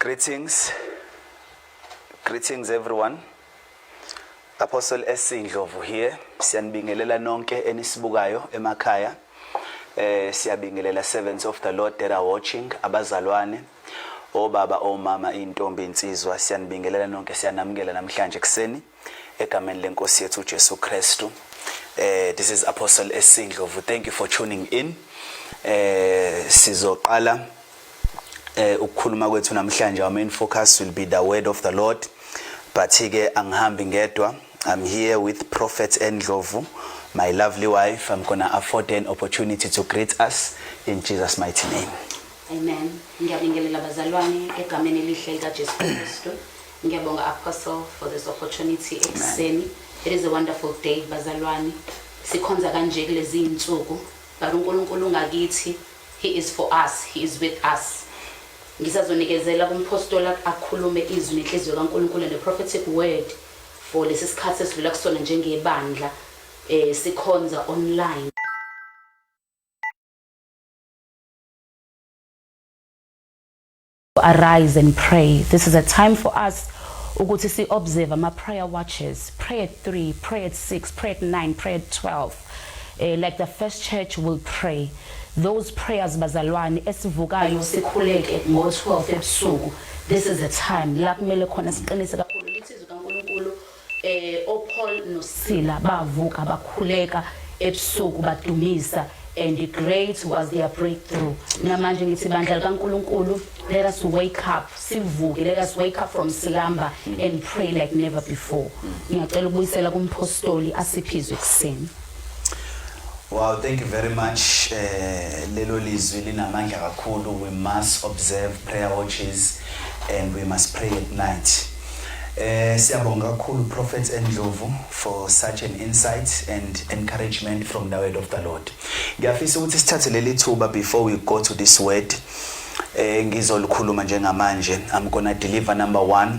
Greetings. Greetings everyone. Apostle Esindlovu here. Siyanibingelela nonke enisibukayo emakhaya. Eh siyabingelela servants of the Lord that are watching abazalwane. obaba omama intombi insizwa siyanibingelela nonke siyanamukela namhlanje kuseni egameni lenkosi yethu uJesu Kristu eh this is apostle esindlovu thank you for tuning in eh sizoqala eh ukukhuluma kwethu namhlanje our main focus will be the word of the lord but ke angihambi ngedwa i'm here with prophet endlovu my lovely wife i'm gonna afford an opportunity to greet us in jesus mighty name Amen. Ngiyabingelela bazalwane egameni elihle likaJesu Kristu. Ngiyabonga Apostle for this opportunity ekuseni. It is a wonderful day bazalwane. Sikhonza kanje kulezi insuku, but uNkulunkulu ungakithi. He is for us, he is with us. Ngisazonikezela kumpostola akhulume izwi nenhliziyo kaNkulunkulu and the prophetic word for lesi sikhathi esidlula kusona njengebandla eh sikhonza online. Arise and pray. This is a time for us ukuthi si observe ama prayer watches. Pray at 3, pray at 6, pray at 9, pray at 12. Uh, eh, like the first church will pray. Those prayers bazalwane esivukayo sikhuleke ngo-12 ebusuku. This is a time la kumele khona siqinise kakhulu Eh oPaul noSila bavuka bakhuleka ebusuku badumisa and great was their breakthrough namanje ngithi bandla likaNkuluNkulu let us wake up sivuke let us wake up from slumber and pray like never before ngiyacela ukubuyisela kumphostoli asiphizwe kuseni Wow, thank you very much. Eh lelo lizwi linamandla kakhulu. We must observe prayer watches and we must pray at night. Eh siyabonga kakhulu Prophet Endlovu for such an insight and encouragement from the word of the Lord. Ngiyafisa ukuthi sithathe leli thuba before we go to this word. Eh ngizolikhuluma njengamanje. I'm going to deliver number 1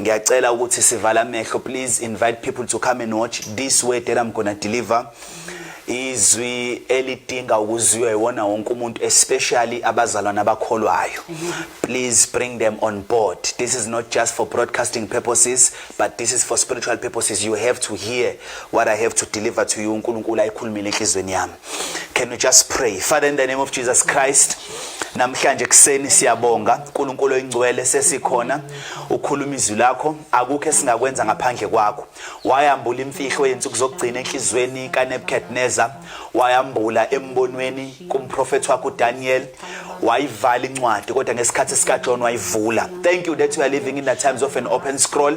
ngiyacela ukuthi sivala amehlo please invite people to come and watch this way that I'm gonna deliver izwi elidinga ukuzwiwa iwona wonke umuntu especially abazalwana abakholwayo please bring them on board this is not just for broadcasting purposes but this is for spiritual purposes you have to hear what i have to deliver to you uNkulunkulu ayikhulumile enhlizweni yami Can we just pray? Father, in the name of Jesus Christ, namhlanje kuseni siyabonga uNkulunkulu oyingcwele sesikhona ukhuluma izwi lakho akukho esingakwenza ngaphandle kwakho wayambula imfihlo yensuku zokugcina enhlizweni kaNebuchadnezzar wayambula embonweni kumprofeti wakho uDaniel wayivala incwadi kodwa ngesikhathi sikaJohn wayivula thank you that you are living in the times of an open scroll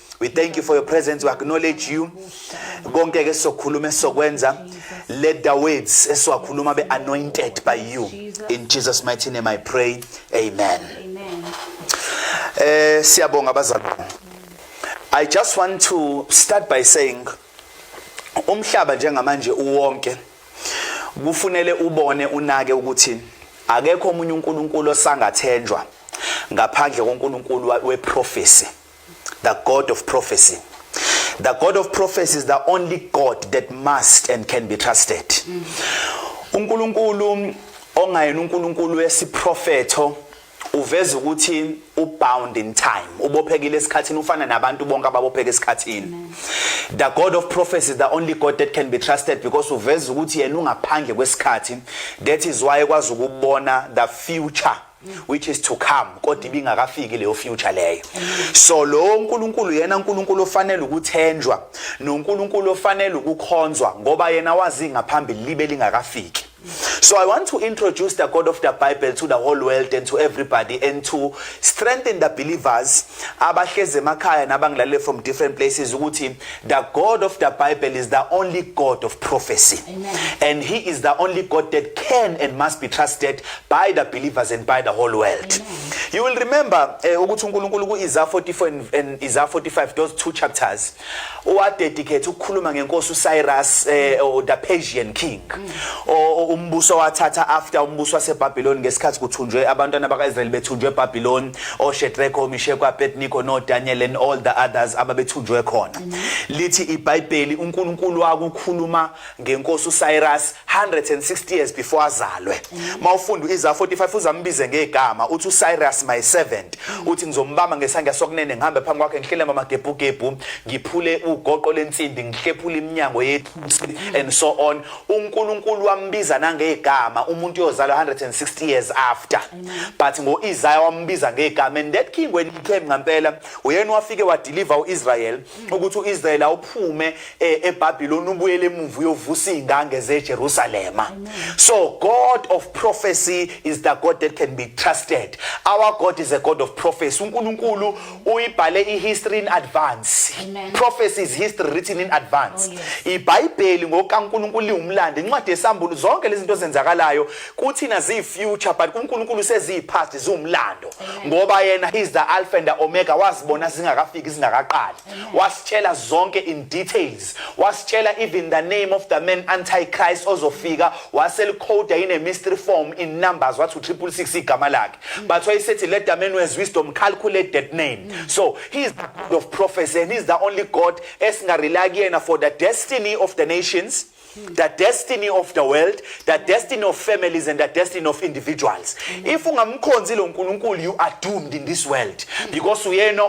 we thank you for your presence we acknowledge you konke ke sokhuluma esokwenza let the words esiwakhuluma be anointed by you in Jesus mighty name i pray amen amen eh siyabonga abazali i just want to start by saying umhlaba njengamanje uwonke kufunele ubone unake ukuthi akekho omunye uNkulunkulu osangathenjwa ngaphandle koNkulunkulu weprofesi the God of prophecy. The God of prophecy is the only God that must and can be trusted. uNkulunkulu ongayena uNkulunkulu wesiprofetho uveza ukuthi ubound in time ubophekile esikhathini ufana nabantu bonke ababopheka esikhathini the god of prophecy is the only god that can be trusted because uveza ukuthi yena ungaphandle kwesikhathi that is why ekwazi ukubona the future which is to come kodwa ibingakafiki leyo future leyo so lo nkulunkulu yena nkulunkulu ofanele ukuthenjwa nonkulunkulu ofanele ukukhonzwa ngoba yena wazi ngaphambili libe lingakafiki So I want to introduce the God of the Bible to the whole world and to everybody and to strengthen the believers abahleze emakhaya nabangilalele from different places ukuthi the God of the Bible is the only God of prophecy Amen. and he is the only God that can and must be trusted by the believers and by the whole world Amen. you will remember eh, ukuthi uNkulunkulu kuIsaiah 44 and, and Isaiah 45 those two chapters wadedicate ukukhuluma ngenkosi uCyrus eh, or the Persian king mm. o umbuso wathatha after umbuso waseBabylon ngesikhathi kuthunjwe abantwana bakaIsrael bethunjwe eBabylon oShadrach oMeshach aBednego noDaniel and all the others ababethunjwe khona mm. lithi iBhayibheli uNkulunkulu wakukhuluma ngenkosi uCyrus 160 years before azalwe mawufunda iza 45 uzambize ngegama uthi uCyrus my servant uthi ngizombamba ngesandla sokunene ngihambe phambi kwakhe ngihlele mama gebhu gebhu ngiphule ugoqo lensimbi ngihlephule iminyango yethu and so on uNkulunkulu wambiza nangegama umuntu yozalwa 160 years after but ngoIsaiah wambiza ngegama and that king when he came ngampela uyena wafike wadeliver uIsrael ukuthi uIsrael awuphume eh, eBabylon ubuyele emuva uyovusa izingange zeJerusalem so god of prophecy is the god that can be trusted our god is a god of prophecy uNkulunkulu uyibhale ihistory in advance prophecy is history written in advance oh, iBhayibheli ngokaNkulunkulu liwumlando incwadi yesambulu zonke lezi zinto zenzakalayo kuthina ziyi future but kuNkulunkulu seziyi past ziwumlando ngoba yena he's the alpha and the omega wazibona zingakafiki zingakaqali wasitshela zonke in details wasitshela even the name of the man anti Christ ozofika waselikhoda in a mystery form in numbers wathi u666 igama lakhe but wayesethi let the man with wisdom calculate that name so he is the god of prophecy and he is the only god esingarely kuyena for the destiny of the nations the destiny of the world the destiny of families and the destiny of individuals if ungamkhonzi lo nkulunkulu you are doomed in this world because uyena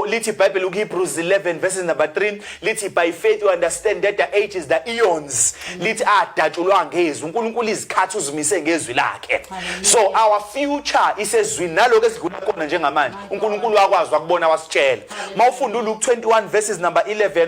lithi bible ukehebrews 11 verses number 3 lithi by faith you understand that the ages the eons lithi adatshulwa ngezwi unkulunkulu izikhathi uzimise ngezwi lakhe so our future isezwini naloko esidlula kona njengamanje unkulunkulu wakwazi wakubona wasitshela mawufunda uluke 21 verses number 11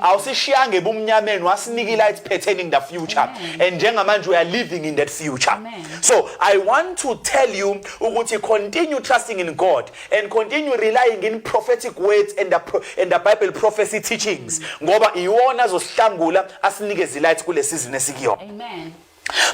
awusishiyanga ebumnyameni wasinika ilight pertaining the future Amen. and njengamanje we are living in that future Amen. so i want to tell you ukuthi continue trusting in god and continue relying in prophetic words and the, pro and the bible prophecy teachings ngoba iwona azosihlangula asinikeze ilight kule season esikuyona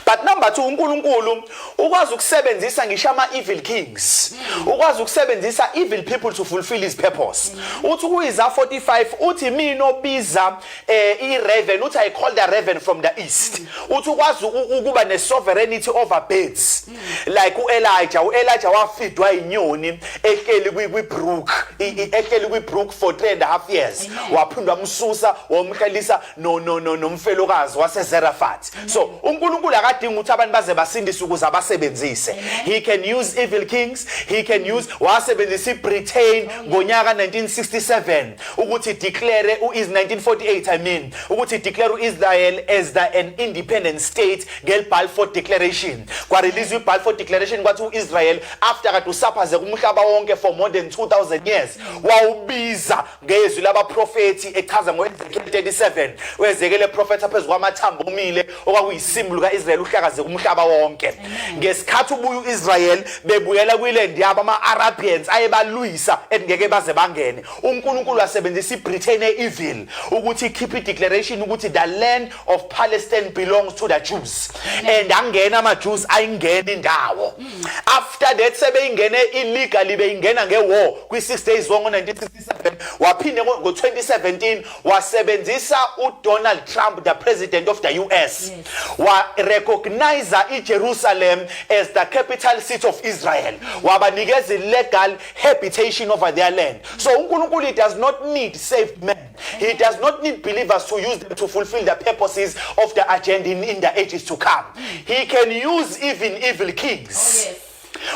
but number two unkulunkulu ukwazi ukusebenzisa ngisho ama-evil kings ukwazi ukusebenzisa evil people to fulfill his purpose uthi kuyiza 45 uthi mina obiza um eh, i-raven uthi i call the raven from the east uthi ukwazi ukuba ne-sovereignty over birds like u-elija u-elija wafidwa inyoni ehleli kwibrook ehleli kwibrook for three and a half years waphindwa msusa wamhlalisa no no no nomfelokazi waseZerafat so uNkulunkulu akadingi ukuthi abantu baze basindise ukuze abasebenzise he can use evil kings he can use wasebenzisa iBritain ngonyaka 1967 ukuthi declare uIs 1948 i mean ukuthi declare uIsrael as the an independent state ngel Balfour declaration kwa release iBalfour declaration kwathi uIsrael after kade usaphaze kumhlaba wonke for more than 2000 years wawubiza ngezwi labaprofethi echaza ngoEzekiel 37 uEzekiel eprofetha phezu kwamathambo omile okwakuyisimu lukaIsrael uhlakaze kumhlaba wonke ngesikhathi ubuya uIsrael bebuyela kwiland yabo ama-Arabians ayebalwisa engeke baze bangene uNkulunkulu wasebenzisa iBritain e-evil ukuthi ikhiphe ideclaration ukuthi the land of Palestine belongs to the Jews and angena ama Jews ayingena indawo mm. after that sebeyingene illegally beyingena nge war kwi 6 days war ngo 1967 waphinde ngo 2017 wasebenzisa u Donald Trump the president of the US wa recognize i Jerusalem as the capital city of Israel mm. wabanikeza legal habitation over their land so uNkulunkulu does not need saved men He does not need believers to use them to fulfill the purposes of the agenda in, in the ages to come. He can use even evil kings. Oh, yes.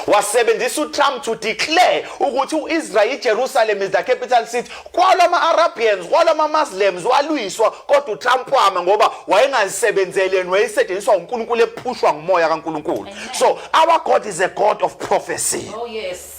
wasebenzisa uTrump to declare ukuthi uIsrael iJerusalem is the capital city kwalama Arabians kwalama Muslims walwiswa kodwa uTrump wama ngoba wayengazisebenzeleni wayesetshenziswa uNkulunkulu ephushwa ngumoya kaNkulunkulu so our God is a God of prophecy oh yes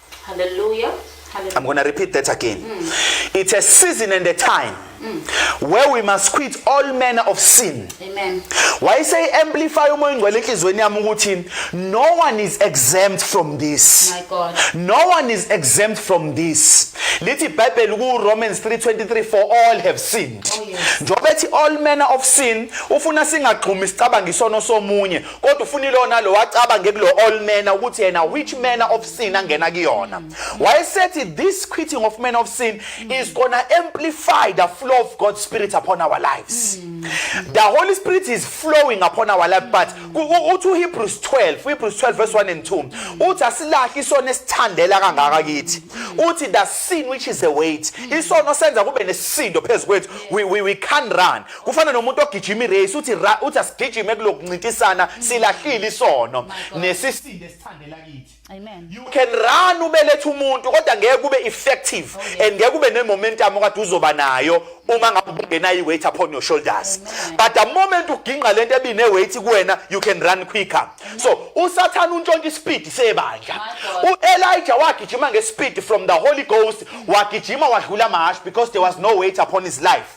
Hallelujah. Hallelujah. I'm going to repeat that again. Mm. It's a season and a time mm. where we must quit all manner of sin. Amen. Why say amplify umoya ingcwele enhlizweni yami ukuthi no one is exempt from this. My God. No one is exempt from this. Lithi iBhayibheli ku Romans 3:23 for all have sinned. Oh, yes. Njengoba ethi all manner of sin ufuna singagxumi sicabanga isono somunye kodwa ufuna ilo nalo wacabange kulo all manner ukuthi yena which manner of sin angena kuyona wayesethi this quitting of manner of sin is gonna amplify the flow of God's spirit upon our lives the holy spirit is flowing upon our life but uthi uHebrews 12 uHebrews 12 verse 1 and 2 uthi asilahle isona esithandela kangaka kithi uthi the sin which is a weight isono senza kube nesisindo phezukwethu we, we, we can't run kufana nomuntu ogijima irace uthi ra uthi asigijime kulokuncintisana silahlile isono nesisinde sithandela kithi amen you can run ubelethe umuntu kodwa ngeke kube effective oh, and ngeke kube nemomentum okade uzoba nayo uma ngabe ungena iweight upon your shoulders but the moment uginqa lento ebine weight kuwena you can run quicker so usathana untshontsha ispeed sebandla uElijah wagijima ngespeed from the holy ghost wagijima wadlula amahash because there was no weight upon his life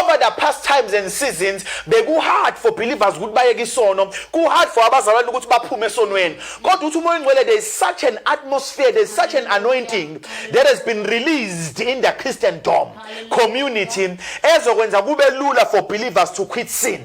over the past times and seasons bekuhard for believers ukuthi bayeke isono kuhard for abazalwane ukuthi baphume esonweni kodwa ukuthi umoya ongcwele there is such an atmosphere there is such an anointing that has been released in the christian dom community ezokwenza kube lula for believers to quit sin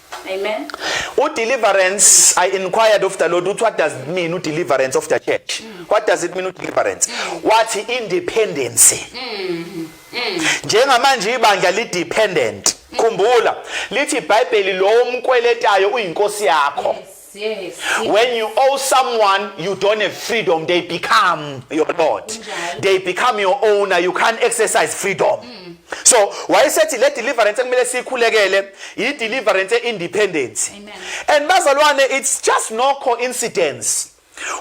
Amen. Udeliverance, I inquired of the Lord, what does it mean, deliverance of the church? Mm. What does it mean, deliverance? Mm. What independence? Mm. Mm. Njengamanje ibandla li dependent. Mm. Khumbula, lithi iBhayibheli lo umkweletayo uyinkosi yakho. Yes. Yes. When you owe someone, you don't have freedom. They become your lord. They become your owner. You can't exercise freedom. Mm. So wayesethi le deliverance ekumele siyikhulekele yi deliverance independence. And bazalwane it's just no coincidence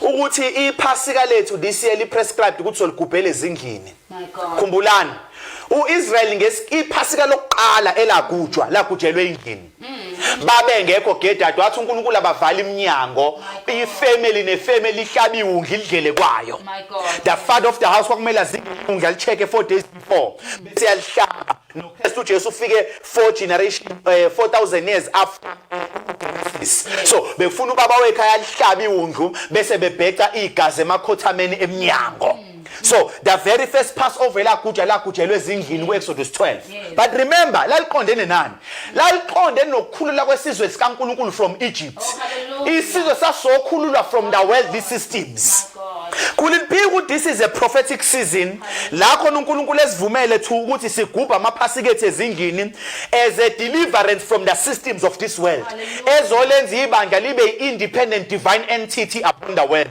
ukuthi iphasika lethu this year li prescribed ukuthi soligubhele ezindlini. Khumbulani uIsrael ngesiphasika lokuqala elagujwa lagujelwe endlini. babengekho gedade wathi uNkulunkulu abavala iminyango ifamily nefamily ihlabiwe undla idlele kwayo the father of the house kwakumele azingundla licheke 4 days before bese yalihlaba noKristu uJesu ufike 4 generation 4000 eh, years after so befuna ubaba wekhaya lihlabe iwundlu bese bebheca igazi emakhothameni emnyango so the very first passover elaguja lagujelwe ezindlini ku-exodus 12 but remember laliqondene nani laliqondene nokukhulula kwesizwe sikankulunkulu from egypt oh, isizwe sasokhululwa from the worldly systems could it be ukuthi this is a prophetic season la khona unkulunkulu esivumele to ukuthi sigubhe amaphasika ethu ezindlini as a deliverance from the systems of this world ezolenza ibandla libe i-independent divine entity upon the world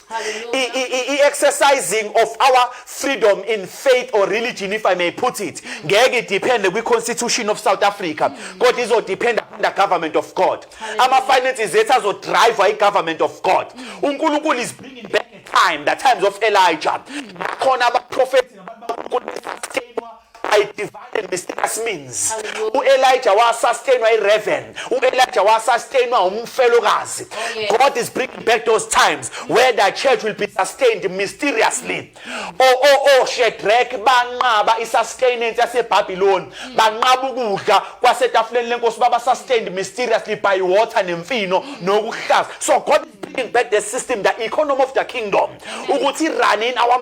i-exercising of our freedom in faith or religion if i may put it ngeke idepende kwi-constitution of south africa kodwa izodependa under government of god ama-finances ethu azodriva i-government of god unkulunkulu is bringing back time the times of elijah khona abaprofethi I divided mysterious means. U-Elijah wasastainwa i-raven. U-Elijah wasastainwa umfelokazi. Oh, God is bringing back those times where the church will be sustained mysteriously. O oh, o oh, o Shadrach banqaba i-sustenance yaseBabiloni. Hmm. Banqaba ukudla kwasetafuleni lenkosi baba sustained mysteriously by water nemfino hmm. nokuhlaza. So God is bringing back the system, the economy of the kingdom. Ukuthi run in our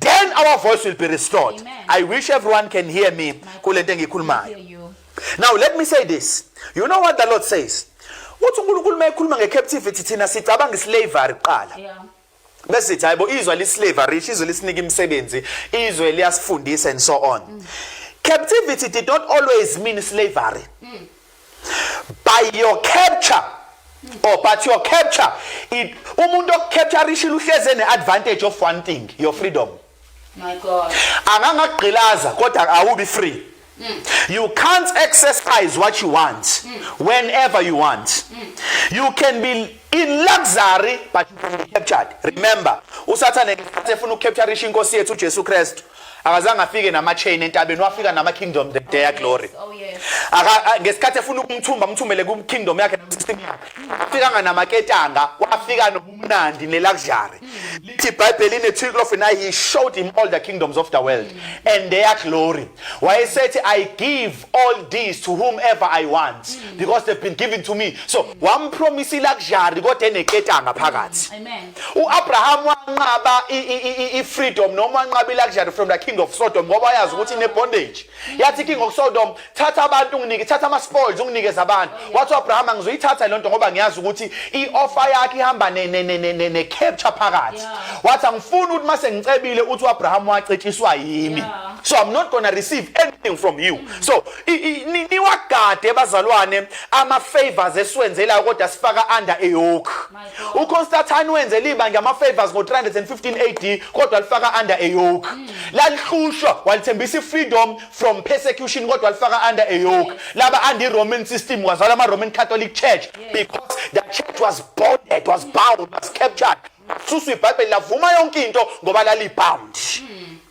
then our voice will be restored Amen. i wish everyone can hear me kule nto engiyikhulumayo now let me say this you know what the lord says uthi unkulunkulu uma ekhuluma nge-captivity thina sicabanga islavery kuqala yeah. bese sithi hayi bo izwe lislavery izwe lisinika imisebenzi izwe liyasifundisa and so on mm. captivity did not always mean slavery mm. by your capture or but your capture it umuntu okucapture ishilo uhleze neadvantage of one thing your freedom my god angangagqilaza kodwa awubi free Mm. You can't exercise what you want mm. whenever you want. Mm. You can be in luxury but you can be captured. Remember, uSathane ngesikhathi efuna ukucapture inkosi yethu uJesu Kristu. akazange afike nama-chain entabeni wafika nama-kingdom the day oh, glory oh, ngesikhathi efuna ukumthumba amthumele ku-kingdom yakhe nam-system yakhe afikanga namaketanga wafika nobumnandi ne-luxury lithi ibhayibheli ine-trilof and i he showed him all the kingdoms of the world and their glory wayesethi i give all these to whomever i want because they've been given to me so wampromisa i-luxury kodwa eneketanga phakathi uAbraham wanqaba ifreedom noma wanqaba iluxury from the king of Sodom ngoba wayazi ukuthi ine bondage yathi king of Sodom thatha abantu unginike thatha ama spoils unginikeza abantu wathi uAbraham angizoyithatha lonto ngoba ngiyazi ukuthi ioffer yakhe ihamba ne ne ne ne ne capture phakathi wathi angifuni ukuthi mase ngicebile uthi uAbraham wacetshiswa yimi so i'm not going to receive anything from you mm. so niwagade bazalwane ama favors esiwenzelayo kodwa sifaka under a yoke uConstantine wenze liba ngama-favors ngo-315 AD kodwa lifaka under a yoke hmm. lalihlushwa walithembisa i-freedom from persecution kodwa lifaka under a yoke laba under roman system wazala ama-roman catholic church because the church was bonded was bound was captured susu ibhayibheli lavuma yonke into ngoba lalibound mm.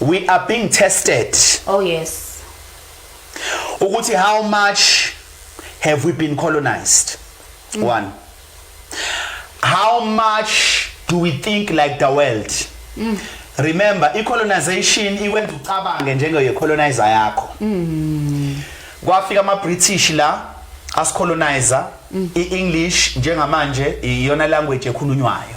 we are being tested oh yes ukuthi how much have we been colonized mm. one how much do we think like the world mm. remember i colonization ikwenza ucabange njenge colonizer yakho mm. kwafika ama british la asicolonizer mm. i english njengamanje iyona language ekhulunywayo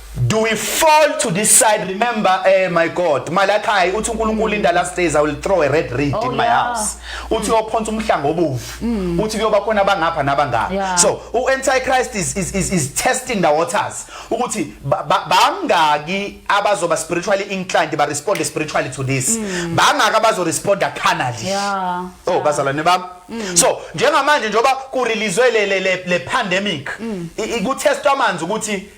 Do we fall to this side? Remember, eh, my God, Malachi, uthi uNkulunkulu in the last days I will throw a red reed oh, in my yeah. house. Uthi mm. uyophonsa umhlanga obovu. Mm. Uthi kuyoba khona abangapha nabangapha. Yeah. So, u-Antichrist is, is, is, is testing the waters. Ukuthi bangaki abazoba spiritually inclined, ba respond spiritually to this. Mm. Bangaki abazo respond carnally. Yeah. Oh, yeah. bazalwane bami. Mm. So, njengamanje njengoba kurelease le le le pandemic, mm. ikutestwa amanzi ukuthi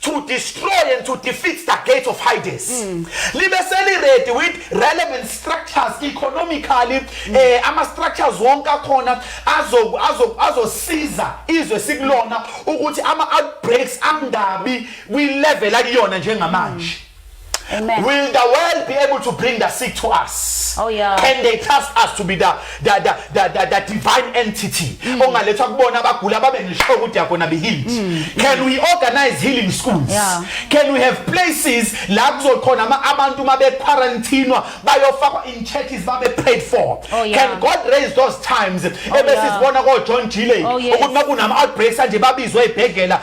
to destroy and to defeat the gates of Hades mm. libe seliredi with relevant structures economically mm. eh ama structures wonke akhona azo azo azosiza izwe sikulona ukuthi ama outbreaks angabi kwi level akuyona njengamanje mm. Amen. Will the world be able to bring the sick to us? Oh yeah. Can they trust us to be the the the the, the, the divine entity? Mm. Ongalethwa kubona abagula babe ngisho ukuthi yakona be healed. Mm. Can we organize healing schools? Yeah. Can we have places la kuzokhona abantu mabe quarantine bayofakwa in churches babe prayed for? Oh, yeah. Can God raise those times? Oh, Ebesizibona ko John Gile ukuthi makunama outbreaks anje babizwe ibhegela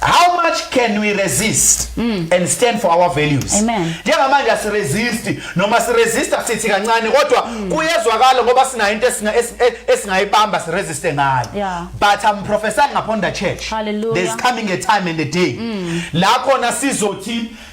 how much can we resist mm. and stand for our values njengamanje asiresist noma siresista sithi kancane kodwa mm. kuyezwakala ngoba sinayo into e-, esingayibamba siresiste ngayo yeah. but i'm prophesying upon the church Hallelujah. there's coming a time and a day mm. la khona sizothi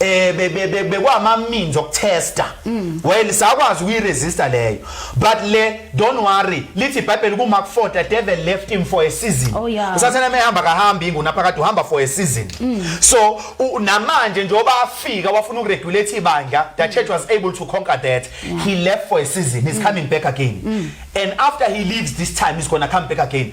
eh bekwama means okutesta mm. well sakwazi ukuyiresista leyo but le don't worry lithi iBhayibheli ku Mark 4 the devil left him for a season oh, usathana mehamba kahambi inguna phakathi uhamba for a season mm. so namanje njengoba afika wafuna ukuregulate ibandla the church was able to conquer that he left for a season he's mm. coming back again and after he leaves this time he's going to come back again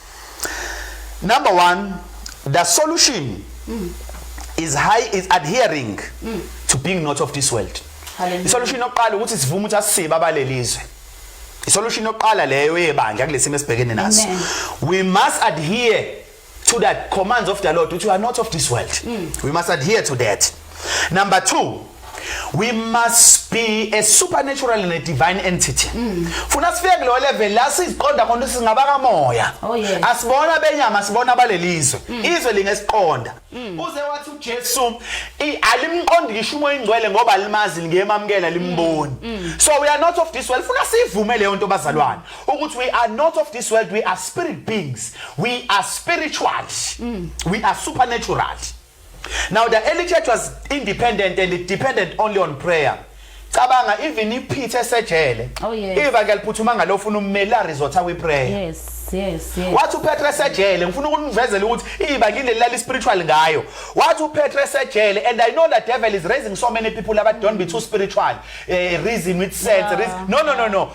Number one, the solution mm. is high is adhering mm. to being not of this world. Isolution yokuqala ukuthi sivume ukuthi asisibe abalelizwe. Isolution yokuqala leyo yebandla kulesimo esibhekene naso. We must adhere to the commands of the Lord, which are not of this world. Mm. We must adhere to that. Number two, we must be a supernatural and a divine entity mm. funa sifike kulo level la siziqonda khona singaba kamoya oh, asibona benyama sibona balelizwe mm. izwe lingesiqonda mm. uze wathi uJesu alimqondi ngisho umoya ingcwele ngoba limazi lingeyemamkela limboni so we are not of this world funa sivume leyo nto bazalwane ukuthi we are not of this world we are spirit beings we are spiritual we are supernatural Now the early church was independent and it depended only on prayer. Cabanga even iphithe esejele. Oh yes. Iva ke liphuthuma ngalo ufuna ummeli a resort awi prayer. Yes. Yes, yes. Wathi uPetru esejele ngifuna ukunivezela ukuthi iba ngile lali spiritual ngayo. Wathi uPetru esejele and I know that devil is raising so many people about don't be too spiritual. Uh, reason with sense. Yeah. Reason. No no no no.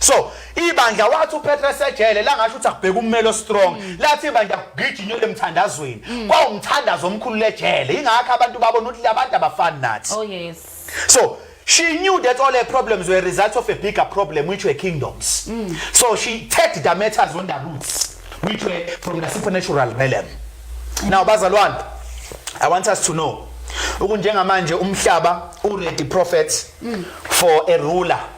so ibandla wathi uPetra sejele langasho ukuthi akubheka ummelo strong mm. lathi ibandla kugijinywe lemthandazweni mm. kwawumthandazo omkhulu lejele ingakho abantu babona ukuthi labantu abafani nathi oh yes so she knew that all her problems were results of a bigger problem which were kingdoms mm. so she tagged the matters on the roots which were from the supernatural realm now bazalwane i want us to know ukunjengamanje umhlaba u ready prophet mm. for a ruler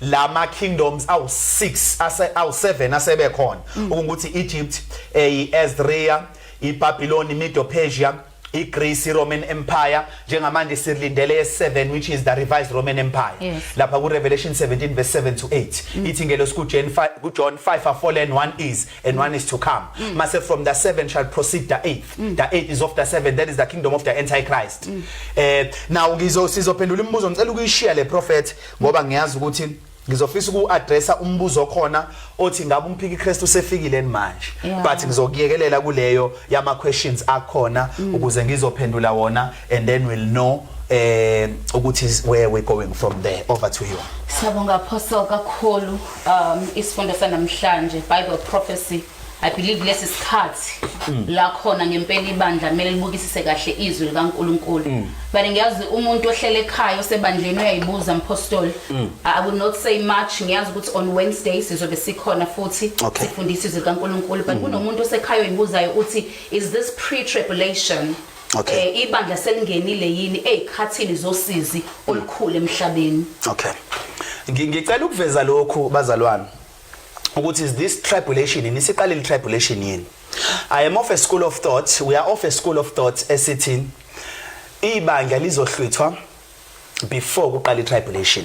lama kingdoms awu 6 ase awu 7 asebe khona mm. ukuthi Egypt eyiAssyria eh, iBabylon Medo Persia iGreece iRoman Empire njengamanje silindele ye7 which is the revised Roman Empire yes. lapha ku Revelation 17 verse 7 to 8 mm. ithi ngelo siku John 5 ku John 5 are fallen one is and one is to come mm. mase from the 7 shall proceed the 8 mm. the 8 is of the 7 that is the kingdom of the antichrist mm. eh now ngizo sizophendula imibuzo ngicela ukuyishiya le prophet ngoba ngiyazi ukuthi ngizofisa uku-addressa umbuzo okhona othi ngabe umphiki Kristu usefikile manje yeah. but ngizokuyekelela kuleyo yama questions akhona mm. ukuze ngizophendula wona and then we'll know eh ukuthi where we going from there over to you Siyabonga apostle kakhulu um isifundo sanamhlanje Bible prophecy I believe lesi sikhathi mm. la khona ngempela ibandla kumele libukisise kahle izwi likaNkuluNkulu. Mm. But ngiyazi umuntu ohlele ekhaya osebandleni uyayibuza mpostoli. Mm. I will not say much ngiyazi ukuthi on Wednesday sizobe sikhona futhi sifundisa izwi likaNkuluNkulu but kunomuntu osekhaya oyibuzayo uthi is this pre tribulation? Okay. Eh ibandla selingenile yini ezikhathini zosizi olukhulu emhlabeni. Okay. Ngicela ukuveza lokhu bazalwane. ukuthi is this tribulation yini siqale le tribulation yini i am of a school of thought we are of a school of thought esithi ibandla lizohlwithwa before kuqala itribulation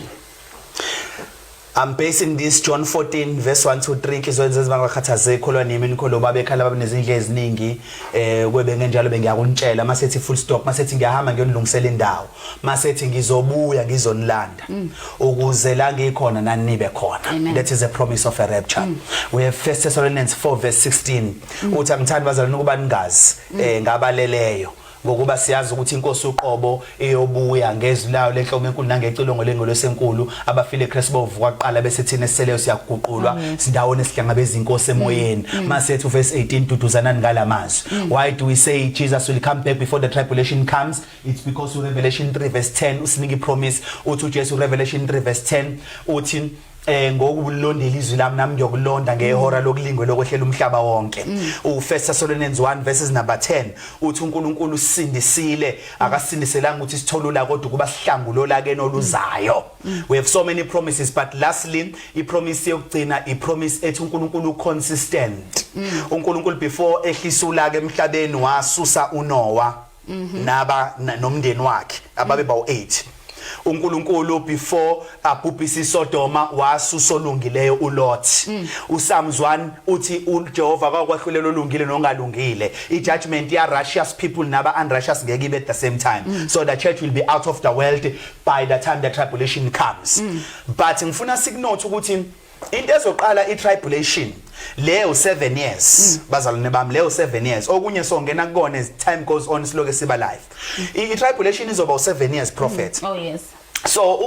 I'm basing this John 14 verse 1 to 3 kizoyenza ezibangakhathaze ikholwa nimi nikholo babekhala babenezindle eziningi eh kube ngenjalo bengiyakuntshela masethi full stop masethi ngiyahamba ngiyonilungisela indawo masethi ngizobuya ngizonilanda mm. ukuze la ngikhona nanibe khona Amen. that is a promise of a rapture mm. we have first Thessalonians 4 verse 16 mm. uthi angithandi bazalwane ukuba ningazi mm. eh ngabaleleyo ngokuba siyazi ukuthi inkosi uqobo iyobuya ngezwi layo lenhloma enkulu nangecilongo lengolosenkulu abafile eKristu bovuka kuqala bese thina siseleyo siyaguqulwa sindawone sihlangabeza inkosi emoyeni mm, mm. mase ethu verse 18 duduzanani ngalamazwi mm. why do we say Jesus will come back before the tribulation comes It's because uRevelation 3 verse 10 usinika ipromise uthi uJesu Revelation 3 verse 10 uthi eh ngokulondela izwi lami nami ngiyokulonda ngehora lokulingwe lokwehlela umhlaba wonke mm. u First Thessalonians 1 verses number 10 uthi uNkulunkulu usindisile akasindiselanga ukuthi sitholula kodwa ukuba sihlangulola ke noluzayo mm. Mm. we have so many promises but lastly i promise yokugcina i promise ethi uNkulunkulu consistent uNkulunkulu before ehlisula ke emhlabeni wasusa uNoah mhm. naba nomndeni wakhe ababe bawu 8 uNkulunkulu before abhubhisa isodoma wasusolungileyo uLot mm. uSamzwan uthi uJehova akwakwahlulela olungile nongalungile ijudgment ya righteous people naba unrighteous ngeke ibe at the same time mm. so the church will be out of the world by the time the tribulation comes mm. but ngifuna sikunothe ukuthi into ezoqala itribulation leyo 7 years mm. bazalwane bami leyo 7 years okunye songena kukona as time goes on siloke siba life itribulation izoba u7 years prophet mm. oh yes so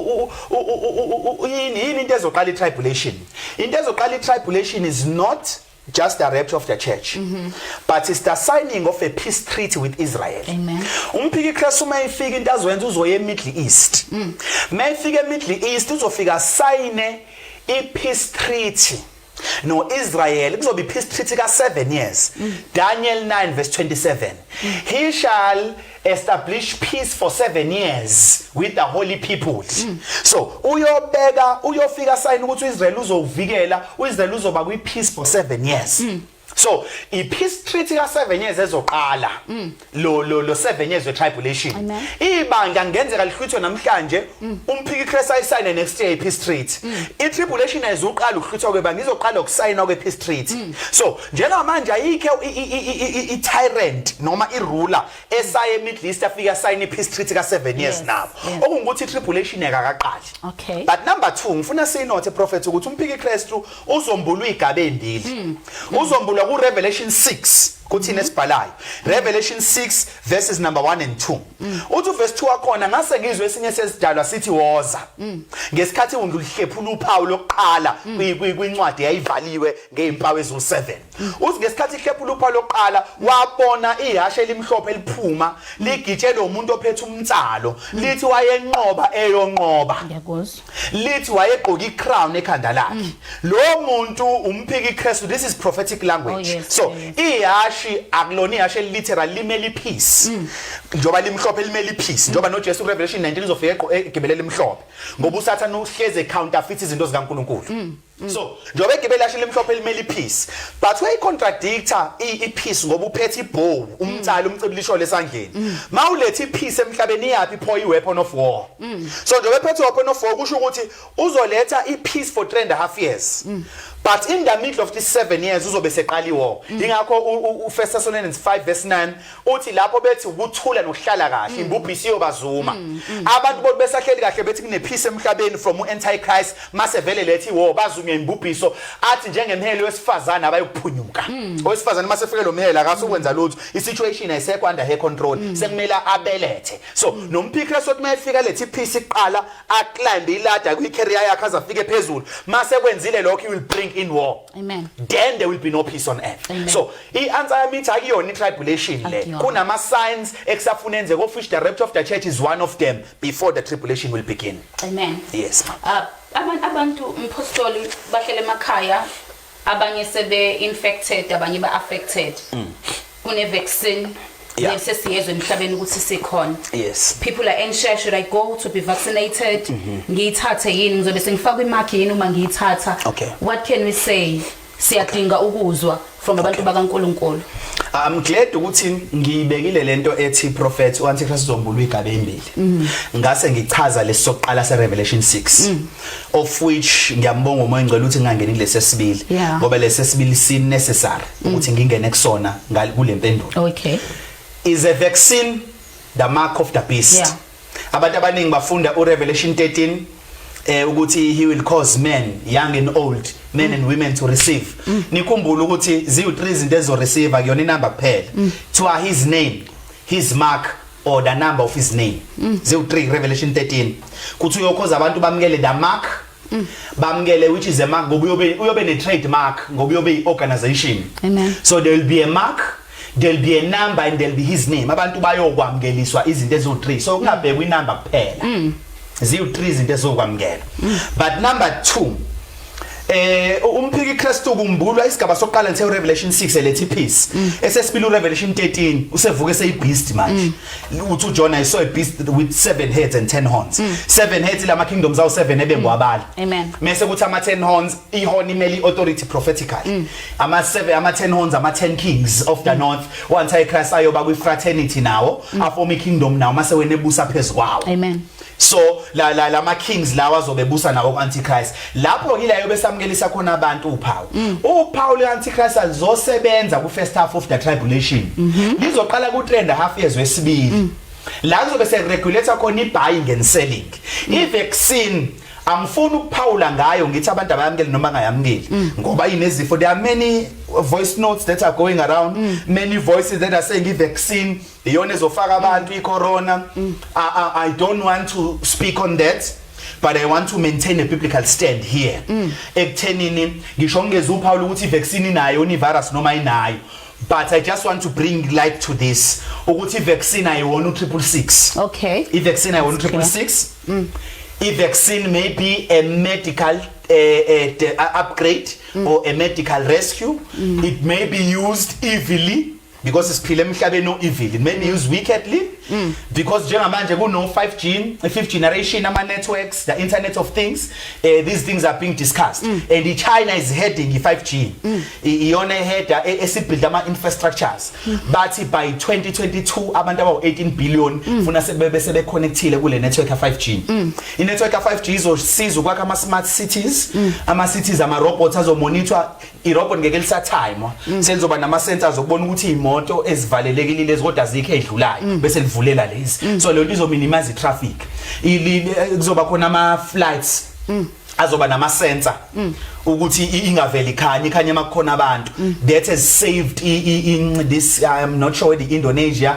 yini yini into ezoqala itribulation into ezoqala itribulation is not just the rapture of the church mm -hmm. but it's the signing of a peace treaty with Israel amen umphiki Christ uma ifika into azwenza uzoya eMiddle East mm. uma ifika eMiddle East uzofika sign i peace treaty no Israel kuzoba i peace treaty ka 7 years mm. Daniel 9 verse 27 mm. he shall establish peace for 7 years with the holy people mm. so uyobeka uyofika sign ukuthi uIsrael uzovikela uIsrael uzoba kwi peace for 7 years mm. so i peace treaty ka 7 years ezoqala mm. lo lo lo 7 years we tribulation ibanga ngenzeka lihlwithwe namhlanje mm. umphiki Christ ayisayine next year i peace treaty mm. i tribulation ezoqala ukuhlwithwa kwebanga izoqala ukusayina kwe peace treaty mm. so njengamanje ayikho i-tyrant noma i-ruler esaye e-middle east afike asayine i-peace treaty ka-seven years yes, nabo yes. okungukuthi i-tribulation yakakaqali okay. but number two ngifuna siyinothe prophet ukuthi umphiki kristu uzombulwa iy'gaba ey'mbili mm. uzombulwa ku-revelation 6 kuthini esibhalayo revelation 6 verses number 1 and 2 uthi uverse 2 wakhona ngase ngizwe esinye sezidalwa sithi woza ngesikhathi ungihlephula uphawu lokuqala kwincwadi yayivaliwe ngezimpawu eziwu-7 uthi ngesikhathi ihlephula uphawu lokuqala wabona ihashe elimhlophe liphuma ligitshelwe umuntu ophethe umnsalo lithi wayenqoba eyonqoba lithi wayegqoka icrown ekhanda lakhe mm. lo muntu umphiki iKristu this is prophetic language oh, yes, so ihashi akulona ihashe literal limele ipeace mm. njoba limhlophe limele ipeace njoba noJesu Revelation 19 uzofika eqo egibelela imhlophe ngoba usathana uhleze counterfeit izinto zikaNkuluNkulu mm. so njengoba igebe lashe limhlophe elimele iphisi but uyayicontradictor iphisi ngoba uphethe ibhowu umtsali umcibilisho lesandleni mawulethe iphisi emhlabeni iyaphi pho iweapon of war so njengoba ephethe weapon of war kusho ukuthi uzoletha ipeace for 3 and a half years but in the middle of this 7 years uzobe seqali war ingakho uFirst Thessalonians 5 verse 9 uthi lapho bethi ukuthula nokuhlala kahle mm. imbubhisi yobazuma mm, mm. abantu bonke besahleli kahle bethi kunephisa emhlabeni from anti Christ mase vele lethi wo bazuma imbubhiso athi njengemhelo wesifazana abayokuphunyuka owesifazana mase fike lo mhela akasukwenza lutho i situation ayisekho under her control sekumela abelethe so nomphikra sothi mayefika lethi peace iqala a climb iladder kwi career yakhe azafike phezulu mase kwenzile lokho he will bring in war amen then there will be no peace on earth amen. so I-answer yami ithi akuyona i-tribulation le Akuyona. kunama-signs ekusafuna enzeka of which the rapture of the church is one of them before the tribulation will begin Amen. yes ma Ah, aban- abantu mphostoli bahlele emakhaya abanye sebe-infected abanye ba-affected kune-vaccine Mm. Yeah. le sesiyezwe emhlabeni ukuthi sikhona yes people are anxious should i go to be vaccinated ngiyithathe yini ngizobe sengifakwa imakhi yini uma ngiyithatha Mm-hmm. Okay. what can we say siyadinga ukuzwa from abantu bakaNkuluNkulu I'm glad ukuthi ngiyibekile lento ethi prophet uAntichrist uzombulwa igabe embili mm. ngase ngichaza lesoqala se Revelation 6 mm. of which ngiyambonga umoya ngcela ukuthi ngangeni kulesi sibili ngoba lesi sibili si necessary mm. ukuthi ngingene kusona ngale kulempendulo okay is a vaccine the mark of the beast yeah. Abantu abaningi bafunda uRevelation 13 eh ukuthi he will cause men young and old men and women to receive nikhumbula ukuthi ziwu three izinto ezo receive akuyona inamba kuphela kuthiwa his name his mark or the number of his name ziwu three revelation 13 kuthi uyokhoza abantu bamukele the mark Mm. bamukele which is a mark ngoba uyobe uyobe ne trademark ngoba uyobe i organization amen so there will be a mark there'll be a number and there'll be his name abantu bayokwamukeliswa izinto ezo 3 so kungabhekwa inamba kuphela mm. ziwu 3 izinto ezokwamukela mm. but number 2 eh umphiki Christu kumbulwa isigaba sokuqala nse Revelation 6 elethi peace mm. esesibili uRevelation 13 usevuke seyibeast manje mm. uthi uJona i saw a beast with seven heads and 10 horns mm. seven heads lama kingdoms awu seven ebengwabala mm. amen mase kuthi ama 10 horns ihorn imeli authority prophetically mm. ama seven ama 10 horns ama 10 kings of the mm. north once i christ ayoba kwi fraternity nawo mm. afoma i kingdom nawo mase wena ebusa phezukwawo amen so la la lama kings lawa azobebusa nawo antichrist lapho yila yobe samkelisa khona abantu uphawu mm. uphawu le antichrist alizosebenza ku first half of the tribulation mhm. lizoqala ku trend half years wesibili mm. la kuzobe se regulator khona i buying and selling mm. i vaccine angifuni ukuphawula ngayo ngithi abantu abayamukeli noma angayamukeli mm. ngoba inezifo there are many voice notes that are going around mm. many voices that are saying i vaccine iyona ezofaka abantu mm. icorona mm. I, I, i don't want to speak on that but i want to maintain a biblical stand here mm. ekuthenini ngisho ngingeza uphawula ukuthi ivaccine inayo ni virus noma inayo but i just want to bring light to this ukuthi ivaccine ayiwona u666 okay ivaccine ayiwona u666 mm. ivaccine may be a medical a, a, a upgrade mm. or a medical rescue mm. it may be used evilly because siphila emhlabeni oevil men use wickedly mm. because njengamanje kuno 5G a fifth generation ama networks the internet of things uh, these things are being discussed mm. and China is heading i 5G mm. iyona header e, esibuild ama infrastructures mm. bathi by 2022 abantu abawu 18 billion mm. funa sebebe sebe connectile kule network ya 5G mm. i network ya 5G izosiza ukwakha ama smart cities mm. ama cities ama robots azomonitor irobot ngeke lisathaymwa mm. selizoba nama sensors okubona ukuthi imoto ezivalelekile lezi kodwa zikho edlulayo mm. bese livulela lezi mm. so lento izo minimize traffic kuzoba khona ama flights azoba nama sensor ukuthi ingaveli khanye khanye makukhona abantu that has saved in this i'm not sure the indonesia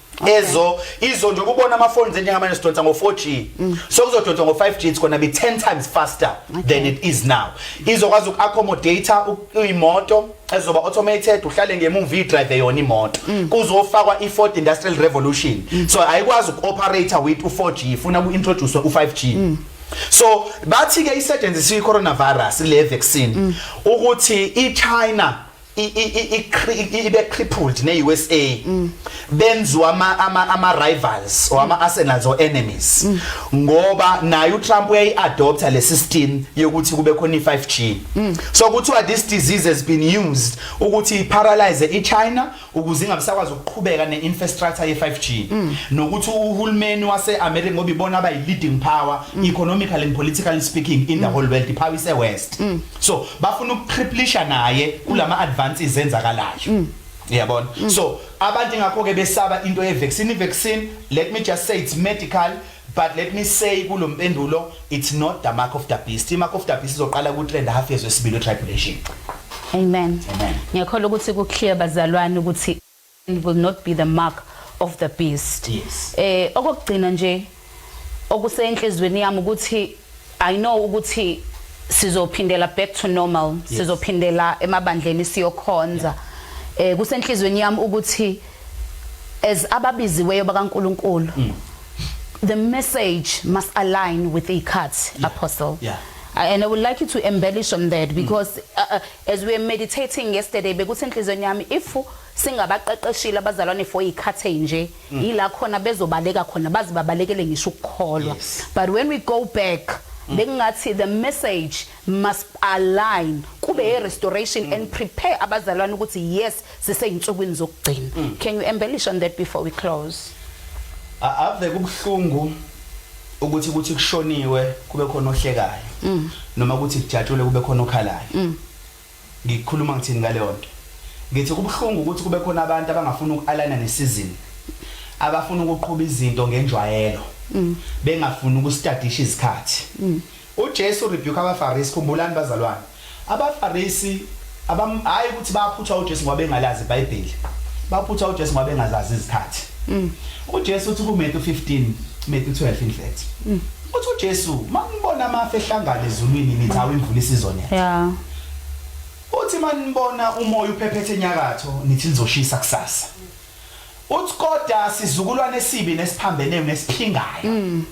Okay. ezo izo nje ukubona ama phones njengamanje sidonsa ngo 4G mm. so kuzodonsa ngo 5G it's going to be 10 times faster okay. than it is now izokwazi uku accommodate imoto ezoba automated uhlale ngemuva idrive yona imoto mm. kuzofakwa i4th industrial revolution mm. so ayikwazi uku operate with u4G ifuna ku introduce u5G mm. so bathi ke isetshenziswa i coronavirus le vaccine mm. ukuthi i China ibe crippled ne USA mm. benziwa ama ama, ama rivals or ama arsenals or enemies mm. ngoba naye uTrump uyayi adopter le system yokuthi kube khona i5G mm. so kuthiwa this disease has been used ukuthi paralyze iChina ukuze ingabisakwazi ukuqhubeka neinfrastructure ye5G nokuthi uhulumeni waseAmerica ngoba ibona abayi leading power economically and politically speaking in the whole world iphawise west so bafuna ukutriplisha naye kulama advances enzakalayo mm. yabona mm. so abantu ngakho ke besaba into ye vaccine vaccine let me just say it's medical but let me say kulompendulo it's not the mark of the beast i mark of the beast izoqala ku trend half years wesibili tribulation amen amen ngiyakholwa ukuthi ku clear bazalwane ukuthi and will not be the mark of the beast yes. eh okugcina nje okusenhlizweni yami ukuthi i know ukuthi sizophindela back to normal yes. sizophindela emabandleni siyokhonza yeah. eh kusenhlizweni yami ukuthi as ababiziweyo bakaNkuluNkulu mm. the message must align with ikhathi yeah. apostle yeah. and i would like you to embellish on that mm. because mm. uh, uh, As we were meditating yesterday bekuthi enhlizweni yami if singabaqeqeshile abazalwane for ikhathe nje mm. yila khona bezobaleka khona bazi babalekele ngisho ukukholwa yes. but when we go back mm. bekungathi the message must align kube mm. ye restoration mm. and prepare abazalwane ukuthi yes siseyinsukwini zokugcina mm. can you embellish on that before we close ave kubuhlungu ukuthi kuthi kushoniwe kube khona ohlekayo mm. noma ukuthi kujatshule kube khona okhalayo mm. ngikhuluma ngithini ngaleyo nto ngithi kubuhlungu ukuthi kube khona abantu abangafuni ukualana nesizini abafuna ukuqhuba izinto ngenjwayelo mm. bengafuni ukustadisha izikhathi mm. UJesu u rebuke abaFarisi, khumbulani bazalwane abaFarisi abam hhayi ukuthi baphutha uJesu ngoba bengalazi iBhayibheli, baphutha uJesu ngoba bengazazi izikhathi. Mm. UJesu uthi kuMetu 15, Metu 12 in fact. Mm. Uthi uJesu manibona amafu ehlangana ezulwini nithi awu imvula isizonetha. Yeah. Uthi manibona umoya uphephethe enyakatho nithi lizoshisa kusasa. Uthi kodwa sizukulwane esibi nesiphambene nesiphingayo. Mm.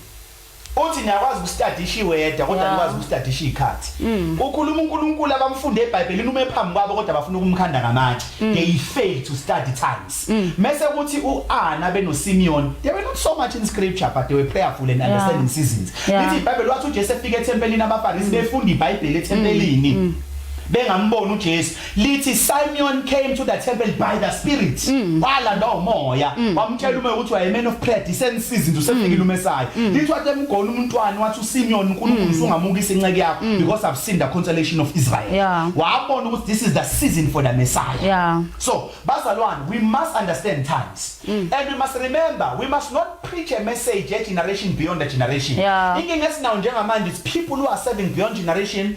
Uthi niyakwazi ukustadisha iweather kodwa nikwazi ukustadisha izikhathi. Mm. Ukhuluma uNkulunkulu abamfunde eBhayibhelini ume phambi kwabo kodwa bafuna ukumkhanda ngamatshe. Mm. They fail to study times. Mm. Mese kuthi uAna benoSimeon, they were not so much in scripture but they were prayerful and understanding seasons. Lithi iBhayibheli wathi uJesu efika ethempelini abaFarisi befunda iBhayibheli ethempelini. Bengamboni uJesu lithi Simeon came to the temple by the spirit mm. walanda umoya mm. wamtshela umoya ukuthi waye man of prayer disensize into sefikile mm. umesayo lithi wathi emgona umntwana wathi uSimeon uNkulunkulu usungamukisa inceku yakho because I've seen the consolation of Israel wabona ukuthi this is the season for the messiah so bazalwane we must understand times and we must remember we must not preach a message a generation beyond a generation inkinga esinayo njengamanje is people who are serving beyond generation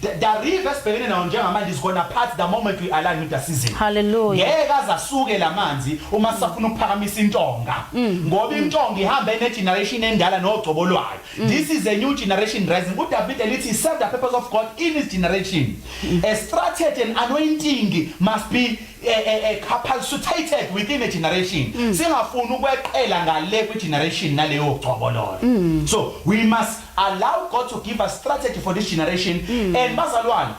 The, the river esibhekene nawo njengamanje is gonna part the moment we align with the season. Hallelujah. Ngeke azasuke lamanzi uma sisafuna ukuphakamisa intonga. Mm. Ngoba intonga ihamba ene generation endala nogcobo lwayo. Mm. This is a new generation rising. UDavid elithi serve the purpose of God in his generation. Mm. A strategy and anointing must be eh, eh, eh, capacitated within a generation singafuni ukweqela ngale kwi generation naleyo gcobololo so we must Allow God to give us strategy for this generation and bazalwane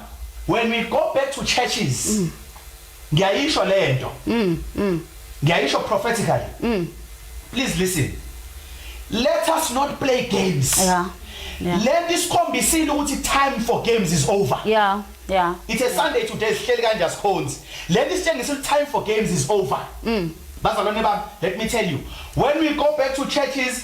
when we go back to churches ngiyayisho lento ngiyayisho prophetically please listen let us not play games Yeah. Yeah. lento isikhombisile ukuthi time for games is over Yeah. Yeah. it's a sunday today sihleli kanje asikhonzi lento isitshengisa ukuthi time for games is over bazalwane bami let me tell you when we go back to churches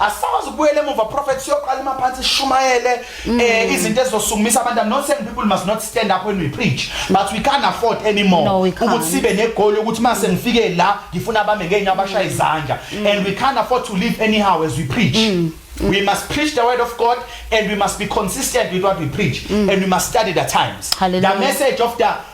asisakwazi ukubuyela emuva prophet siyoqala emaphansi sishumayele mm. eh izinto ezizosukumisa abantu i'm not saying people must not stand up when we preach but we can't afford anymore no, ukuthi sibe negoli ukuthi mase ngifike la ngifuna abame ngenye abashaya izandla mm. and we can't afford to live anyhow as we preach mm. We must preach the word of God and we must be consistent with what we preach mm. and we must study the times. Hallelujah. The message of the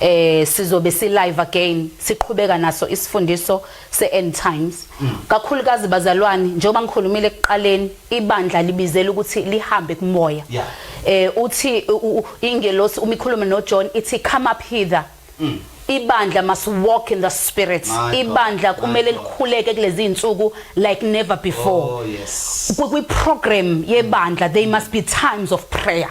eh sizobe si live again siqhubeka naso isifundiso se end times mm. kakhulukazi bazalwane njengoba ngikhulumile ekuqaleni ibandla libizela ukuthi lihambe kumoya eh uthi ingelosi uma ikhuluma no John ithi come up hither mm. ibandla must walk in the spirit ibandla kumele likhuleke kulezi insuku like never before oh, kwi program yebandla they must be times of prayer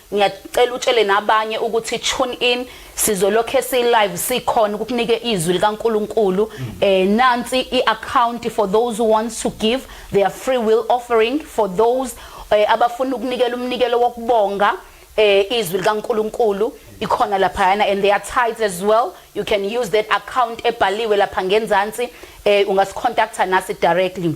Ngiyacela utshele nabanye ukuthi tune in sizolokhe si live sikhona ukukunike izwi likaNkuluNkulu mm. eh nansi iaccount for those who wants to give their free will offering for those eh, abafuna ukunikela umnikelo wokubonga eh izwi likaNkuluNkulu ikhona lapha yana and they are tight as well you can use that account ebhaliwe lapha ngenzansi eh ungasicontacta nasi directly